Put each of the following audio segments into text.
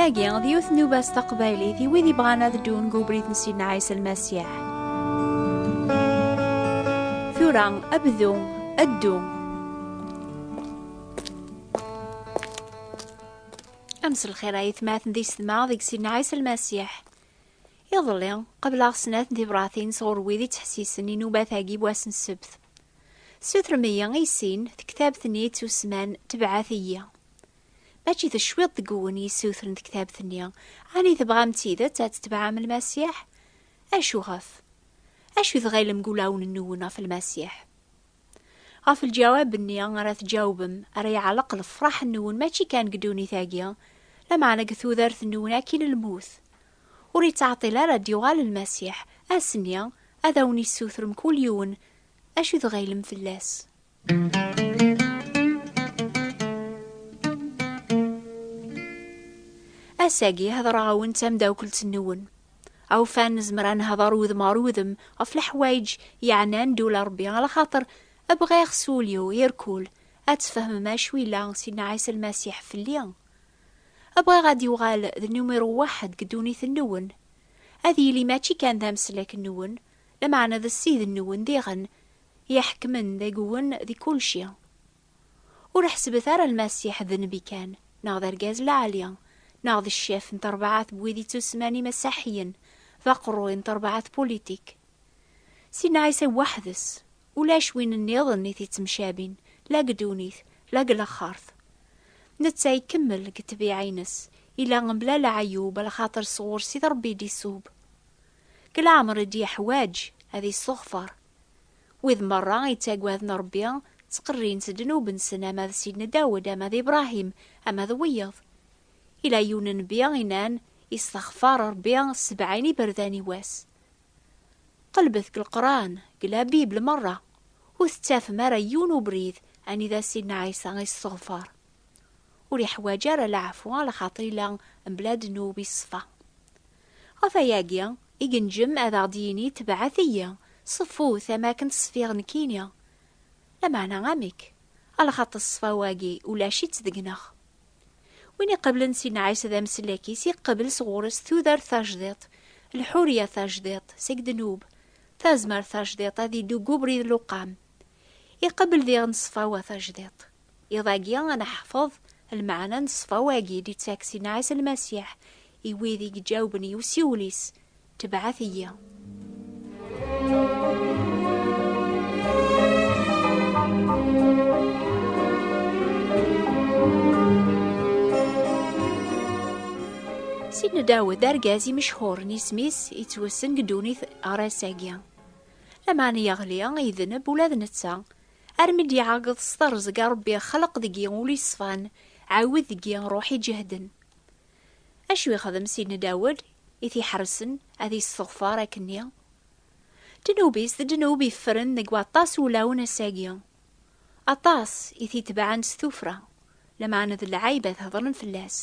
Tagi, d yiwet nubas taqbaylit i wid ibɣan ad ddun deg ubrid n Sidna Ɛisa Lmasiḥ. Tura, abdu, addu. Ames lxir ay tmaten di setma deg Sidna Ɛisa Lmasiḥ. Iḍelli, qebleɣ snat n tibṛatin sɣur wid ittḥessisen inubat-agi n wass n ssebt. Ssutrem-iyi i sin, tektabt-nni yettusman Tebɛet-iyi. Mačči d cwiṭ deg-wen i yessutren tektabt-nni, ɛni tebɣam d tidet ad tetebɛem Lmasiḥ? Acu ɣef? Acu i tɣilem deg ulawen-nwen ɣef Lmasiḥ? Ɣef lǧawab-nni ara tǧawbem ara yeɛleq lefṛaḥ-nwen mačči kan deg ddunit-agi, lameɛna deg tudert-nwen akkin n lmut. Ur yettɛeṭṭil ara ad d-yuɣal Lmasiḥ, ass-nni, ad awen-issuter mkul yiwen acu tɣilem fell-as. Ass-agi, heḍṛeɣ-awen d tamdawkelt-nwen. Awfan, nezmer ad nehḍeṛ udem ɣer udem ɣef leḥwayeǧ yeɛnan ddul n Ṛebbi, alaxaṭer bɣiɣ s wul-iw irkul ad tfehmem acu yella Sidna Ɛisa Lmasiḥ fell-i. Bɣiɣ ad yuɣal d numiru waḥed deg ddunit-nwen. Ad yili mačči kan d ameslak-nwen, lameɛna d ssid-nwen diɣen, i iḥekmen deg-wen di kulci. Ur ḥesbet ara Lmasiḥ d nnbi kan, neɣ d argaz lɛali, neɣ d ccef n trebɛat n wid ittusemman imasaḥiyen, d aqerruy n trebɛat pulitik. Sidna Ɛisa weḥd-s, Ulac win nniḍen i t-ittemcabin, la deg ddunit, la deg laxert. Netta ikemmel deg ṭṭbiɛa-ines, ila mebla leɛyub, lxaṭer s ɣur-s i Ṛebbi i d-isub. Deg leɛmer i d-yeḥwaǧ ad isseɣfer. Wid meṛṛa ittagaden Ṛebbi, ttqerrin s ddnub-nsen ama d Sidna Dawed, ama d Ibṛahim, ama d wiyeḍ. Ila yiwen nnbi inan, Isseɣfar Ṛebbi sebɛin iberdan i wass. Qelbet deg Leqran, deg la Bible merra, ur tettafem ara yiwen ubrid anida Sidna Ɛisa isseɣfar. Ur iḥwaǧ ara laɛfu a lxaṭer ila mebla ddnub i ṣṣfa. Ɣef ayagi i genjem ad aɣ-d-yini tebɛet-iyi, ṣeffut am akken ṣfiɣ nekkini. Lameɛna amek? A lxaṭer ṣṣfa-wagi ulac-itt deg-neɣ. Win iqablen si Nɛisa d amsellek-is, iqabel sɣur-s tudert tajdiṭ, lḥurya tajdiṭ, seg ddnub, tazmert tajdiṭ, ad iddu deg ubrid n luqam. Iqabel diɣ n ṣṣfawa tajdiṭ. Iḍ-agi ad neḥfeḍ lmeɛna n ṣṣfawa-agi i d-ittak si Nɛisa Lmasiḥ i wid i iǧawben i usiwel-is Tebɛet-iyi. Sidna Dawed d argaz imechhuren isem-is yettwessen deg ddunit ɣer ass-agi. Lameɛna yeɣli, yedneb ula d netta, armi d-iɛeggeḍ s terẓeg Ṛebbi ixleq deg-i ul iṣfan, ɛawed deg-i ṛuḥ iǧehden. Acu yexdem Sidna Dawed i t-iḥersen ad yesseɣfer akkenni? Ddnub-is d ddnub yeffren deg waṭas wulawen ass-agi. Aṭas i t-itebɛen s tuffra, lameɛna d lɛayb ad hedren fell-as.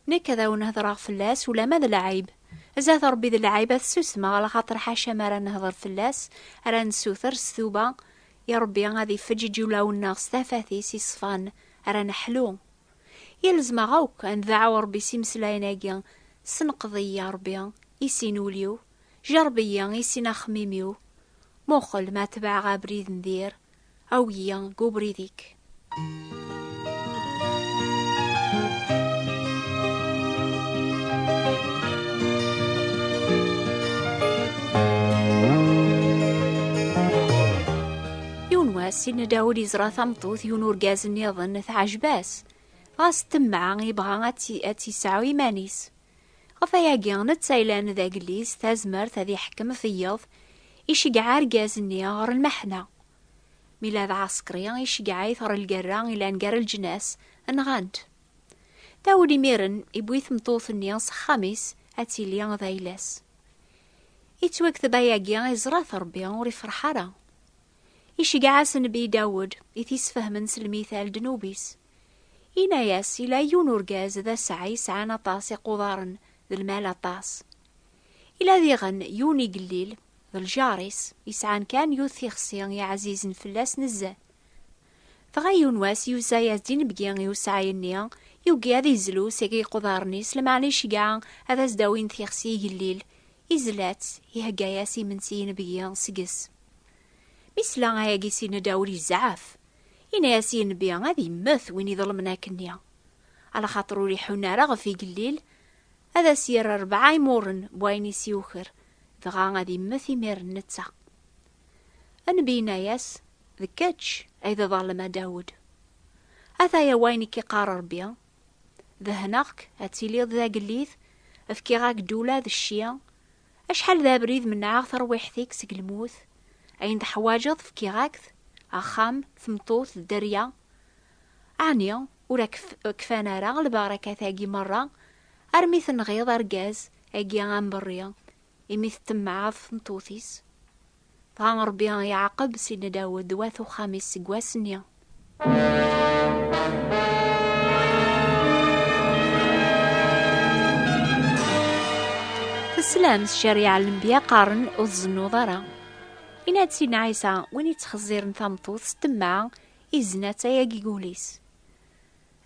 Nekk ad awen-hedreɣ fell-as ulamma d lɛayb, zdat Ṛebbi d lɛayb ad ssusmeɣ laxaṭer ḥaca mi ara nehder fell-as ara nessuter s tuba i Ṛebbi ad ifeǧǧeǧ ulawen-nneɣ s tafat-is iṣfan ara neḥlu Yalzem-aɣ akk ad ndeɛɛu Ṛebbi s imeslayen-agi, Sneqḍ-iyi, a Ṛebbi, i sin ul-iw, jerreb-iyi, i sin axemmim-iw, muqel ma tebɛeɣ abrid n dir, awi-yi deg ubrid-ik. Yiwen wass, Sidna Dawud yeẓra tameṭṭut yiwen urgaz nniḍen teɛjeb-as. Ɣas temmeɛ yebɣa ad tt-yesɛu iman-is. Ɣef ayagi, netta yellan d agellid s tazmert ad iḥekkem ɣef yiḍ, iceggeɛ argaz-nni ɣer lmeḥna. Mi la d ɛaṣekri, iceggeɛ-it ɣer lgerra yellan gar leǧnas, nɣan-t. Dawud imiren iwwi tmeṭṭut-nni s axxam-is ad tili d ayla-s. Yettwakteb ayagi iẓra-t Rebbi ur ifreḥ ara. Iceggeɛ-as Nnbi Dawed i t-isfehmen s lmithal ddnub-is. Yenna-yas, Yella yiwen urgaz d aseɛɛa yesɛan aṭas iqudaren d lmal aṭas. Yella diɣen yiwen igellil d ljar-is yesɛan kan yiwet tixsi i ɛzizen fell-as nezzeh. Dɣa yiwen wass yuza-yas-d inebgi i useɛɛa-nni, yugi ad izlu seg iqudaren-is, lameɛna iceggeɛ ad as-d-awin tixsi igellil Izla-tt, ihegga-yas imensi inebgi seg-s. Mi sla ayagi si nedawel izɛaf. Ina-yas inbi ad immet win iḍelmen akkenni. Alaxaṭer ur iḥun ara ɣef igellil, ad as-yerr rebɛa imuren n wayen i s-yuker, dɣa ad immet imiren netta. Anbi ina-yas, D kečč ay d aḍalem a Dawed. Ataya wayen i k-iqqar Rebbi, Dehneɣ-k ad tiliḍ d agellid, fkiɣ-ak-d ula d cci. Acḥal d abrid menɛeɣ tarwiḥt-ik seg lmut. Ayen teḥwaǧeḍ fkiɣ-ak-t, axxam, tmeṭṭut, dderya. Ɛni ur ak-kfan ara lbarakat-agi merra, armi tenɣiḍ argaz agi amberri, imi teṭṭemmaɛeḍ tmeṭṭut-is? Dɣa Ṛebbi iɛaqeb Sidna Dawed d wat uxxam-is seg wass-nni. Teslam s cariɛa n lenbiya qqaren ur tzennuḍ ara. Yenna-d Sidna Ɛisa, win ittxezziren tameṭṭut s temmeɛ, izna-tt ayagi gul-is.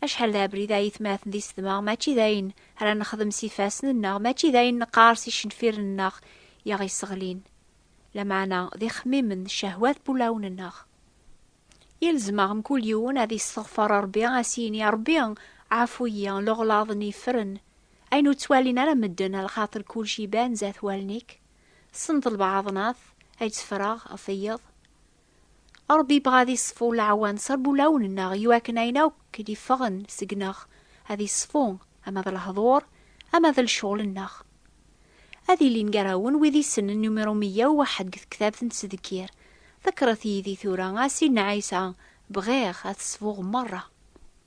Acḥal d abrid ay itmaten d isedma mačči d ayen ara nexdem s ifassen-nneɣ, mačči d ayen neqqar s icenfiren-nneɣ i aɣ-yesseɣlin, lameɛna d ixemmimen d cehwat n wulawen-nneɣ. Yelzem-aɣ mkul yiwen ad yesseɣfer Rebbi, ad as-yini, a Rebbi, ɛfu-yi, leɣlaḍ-nni yeffren, ayen ur ttwalin ara medden, a lxaṭer kulci iban zat wallen-ik, tessneḍ lbaɛḍnat ay tteffreɣ ɣef wiyeḍ. Ṛebbi ibɣa ad iṣfu leɛwan s ṛbulawen-nneɣ i wakken ayen akk i d-iffɣen seg-neɣ ad iṣfu, ama d lehḍur, ama d lecɣel-nneɣ. Ad ilin gar-awen wid isenen numiṛu meyya u waḥed deg tektabt n Ttdekkir. Ḍekkṛet yid-i tura, a Sidna Ɛisa, bɣiɣ ad t-ṣfuɣ meṛṛa.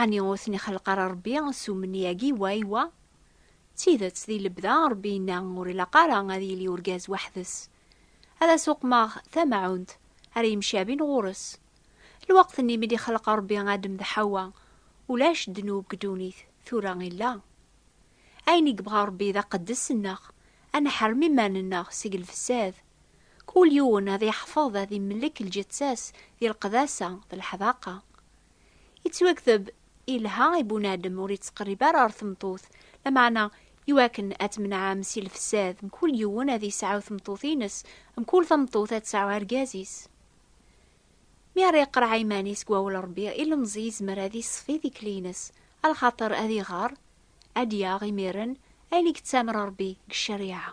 Ɛni ur ten-ixelleq ara Ṛebbi s umenni-agi wa i wa? D tidet, di lebda, Ṛebbi yenna ur ilaq ara ad yili urgaz weḥd-s. Ad as-uqmeɣ tamaɛunt ara yemcabin ɣur-s. Lweqt-nni mi d-ixelleq Ṛebbi Adem d Ḥawwa, ulac ddnub deg ddunit, tura illa. Ayen i yebɣa Ṛebbi d aqeddes-nneɣ, ad neḥrem iman-nneɣ seg lfessad. Kul yiwen ad yeḥfeḍ ad imellek lǧetta-s di leqdasa d leḥdaqa. Yettwakteb ilha i bunadem ur yettqerrib ara ɣer tmeṭṭut, lameɛna iwakken ad tmenɛem si lefsad, mkul yiwen ad yesɛu tmeṭṭut-ines, mkul tameṭṭut ad tesɛu argaz-is. Mi ara iqreɛ iman-is deg wawal n Rebbi, ilemẓi yezmer ad yesfi tikli-ines, a lxaṭer ad iɣer, ad d-yaɣ imiren ayen i yettamer Rebbi deg ccariɛa.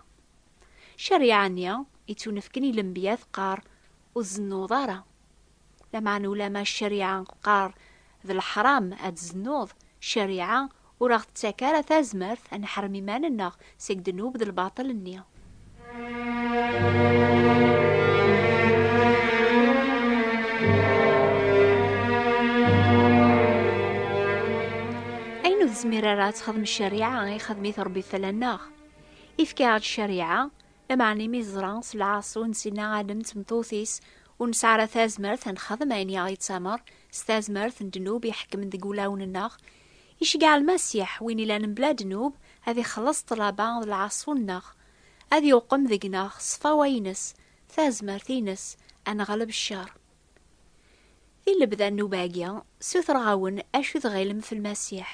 Ccariɛa-nni yettunefken i lenbiya teqqar, Ur tzennuḍ ara. Lameɛna ulamma ccariɛa teqqar d leḥram ad tzennuḍ, ccariɛa ur aɣ-tettak ara tazmert ad neḥrem iman-nneɣ seg ddnub d lbaṭel-nni. Ayen ur tezmir ara ad texdem ccariɛa, ixdem-it Ṛebbi fell-aneɣ. Ifka-aɣ-d ccariɛa, lameɛna imi teẓra s lɛaṣu n Sinna Adem d tmeṭṭut-is Ur nesɛi ara tazmert ad nexdem ayen i aɣ-yettamer s tazmert n ddnub iḥekmen deg wulawen-nneɣ. Iceggeɛ Lmasiḥ, win ilan mebla ddnub, ad ixelleṣ ṭṭlaba d lɛaṣu-nneɣ, ad iwqem deg-neɣ ṣṣfawa-ines, tazmert-ines, ad neɣleb ccer. Di lebda nnub-agi, ssutreɣ-awen acu i tɣilem f Lmasiḥ.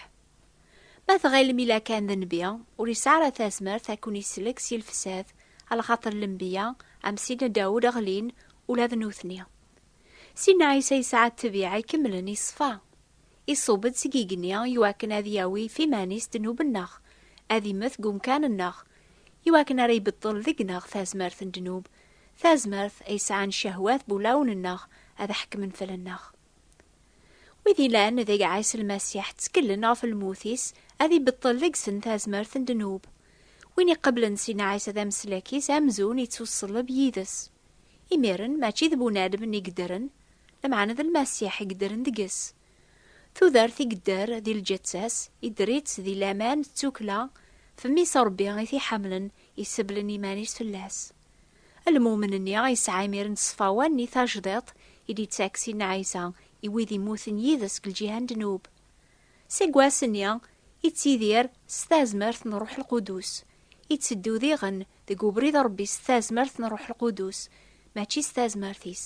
Ma tɣilem ila kan d nnbi, ur yesɛi ara tazmert ad ken-isellek si lefsad, alxaṭer lenbiya am Sidna Dawed ɣlin ula d nutni. Sidna Ɛisa yesɛa ttbiɛa ikemlen i ṣṣfa. Iṣub-d seg igenni i wakken ad yawi ɣef iman-is ddnub-nneɣ, ad immet deg umkan-nneɣ, i wakken ara ibeṭṭel deg-neɣ tazmert n ddnub, tazmert ay sɛan cehwat wulawen-nneɣ ad ḥekmen fell-nneɣ. Wid ilan deg Ɛisa Lmasiḥ ttkellen ɣef lmut-is, ad ibeṭṭel deg-sen tazmert n ddnub. Win iqeblen sin Ɛisa d ameslak-is amzun ittuṣelleb yid-s. Imiren, mačči d bunadem i yeddren, lameɛna d Lmasiḥ i yeddren deg-s. Tudert i yedder di lǧetta-s, idder-itt di laman d tukkla, fem-is Ṛebbi i t-iḥemmlen, iseblen iman-is fell-as. Almumen-nni ay yesɛa imiren ṣṣfawa nni tajdiḍt i d-yettak Sidna Ɛisa i wid immuten yid-s deg lǧiha n ddnub. Seg wass-nni, ittidir s tazmert n Ṛṛuḥ Lqudus, itteddu diɣen deg ubrid n Ṛebbi s tazmert n Ṛṛuḥ Lqudus, mačči s tazmert-is.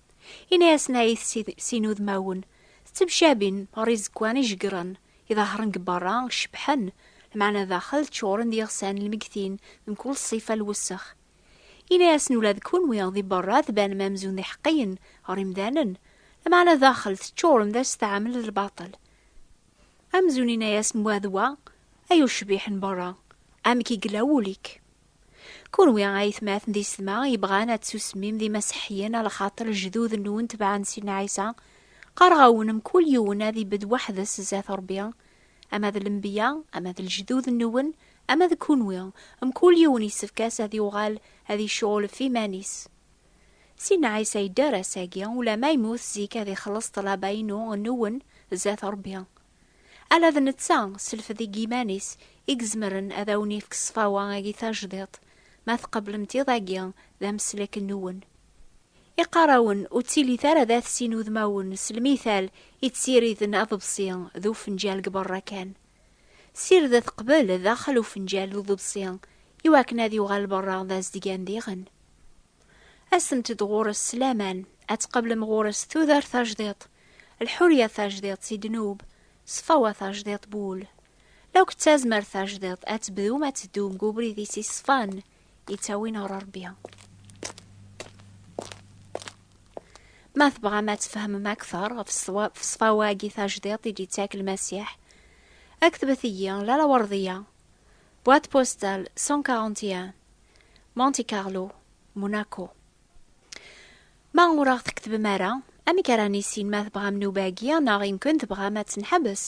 Ini-asen ay sin udmawen, ttemcabin ɣer izekwan ijeggren, iḍahṛen deg beṛṛa cebḥen, lmeɛna daxel ččuṛen d iɣsan lmegtin d mkul ṣṣifa n lwessex. Ini-asen ula d kenwi di beṛṛa tbanem amzun d iḥeqqiyen ɣer yemdanen, lmeɛna daxel teččuṛem d asetɛam d lbaṭel. Amzun yenna-asen wa d wa, Ay ucbiḥ n beṛṛa, amek i yella wul-ik? Kunwi a aytmaten di sedma yebɣan ad tsusmim d imaseḥyen a lxaṭer lejdud-nwen tebɛen Sidna Ɛisa, qqareɣ-awen mkul yiwen ad ibedd weḥd-s zdat Ṛebbi, ama d lenbiya, ama d lejdud-nwen, ama d kunwi, mkul yiwen yessefk-as ad yuɣal ad icuɣel ɣef iman-is. Sidna Ɛisa yedder ass-agi, ulamma yemmut zik ad ixelleṣ ṭṭlaba-inu, nwen, zdat Ṛebbi. Ala d netta s lfed-ig iman-is i izemren ad awen-ifk ṣṣfawa-agi tajdiṭ, ma tqeblemt iḍ-agi d ameslek-nwen. Iqqar-awen ur ttilitt ara d at sin udmawen s lmital i ttiriden aḍebsi d ufenǧal deg berra kan. Sirdet qbel d daxel ufenǧal d uḍebsi i wakken ad yuɣal berra d azedgan diɣen. Asemt-d ɣur-s s laman, ad tqeblem ɣur-s tudert tajdiṭ, Lḥurya tajdiṭ si ddnub, ṣṣfawa tajdiṭ n wul. Lakk d tazmert tajdiṭ ad tebdum ad teddum deg ubrid-is iṣfan, yettawin ɣer Rebbi. Ma tebɣam ad tfehmem akteṛ ɣef ṣṣfawa-agi tajdiṭ i d-yettak Lmasiḥ, ktbet-iyi la laweṛḍiya, boîte postale 141, Monte Carlo, Monaco. Ma ur aɣ-tketbem ara, amek ara nissin ma tebɣam nnuba-agi neɣ imken tebɣam ad tt-neḥbes?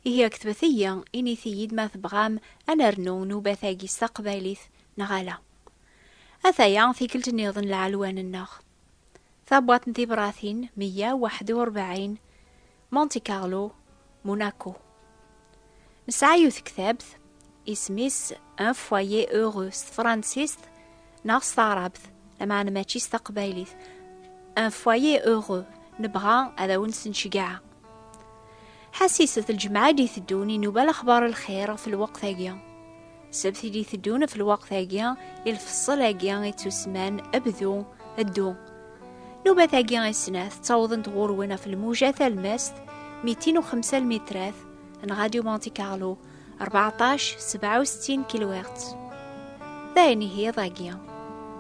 Ihi ketbet-iyi, init-iyi-d ma tebɣam ad nernu nnubat-agi s taqbaylit neɣ ala. Ataya, tikkelt niḍen lɛelwan-nneɣ. Tabwaḍt n tibratin meyya waḥed u rebɛin Monte Carlo, Monaco. Nesɛa yiwet tektabt isem-is Un foyer heureux s tefransist neɣ s taɛrabt, lameɛna mačči s taqbaylit. Un foyer heureux, nebɣa ad awen-sneccgeɛ. Ḥasis, at lǧemɛa i d-iteddun inuba lexbar lxir ɣef lweqt-agi. Sebt ili teddun ɣef lweqt-agi, i lfeṣṣel-agi i ttusman bdu, ddu. Nubat-agi i snat ttawḍent ɣur-wen ɣef lmuja talmast 205 lmitrat n Radio Monte Carlo 14 67 kilohertz. D ayen ihi iḍ-agi.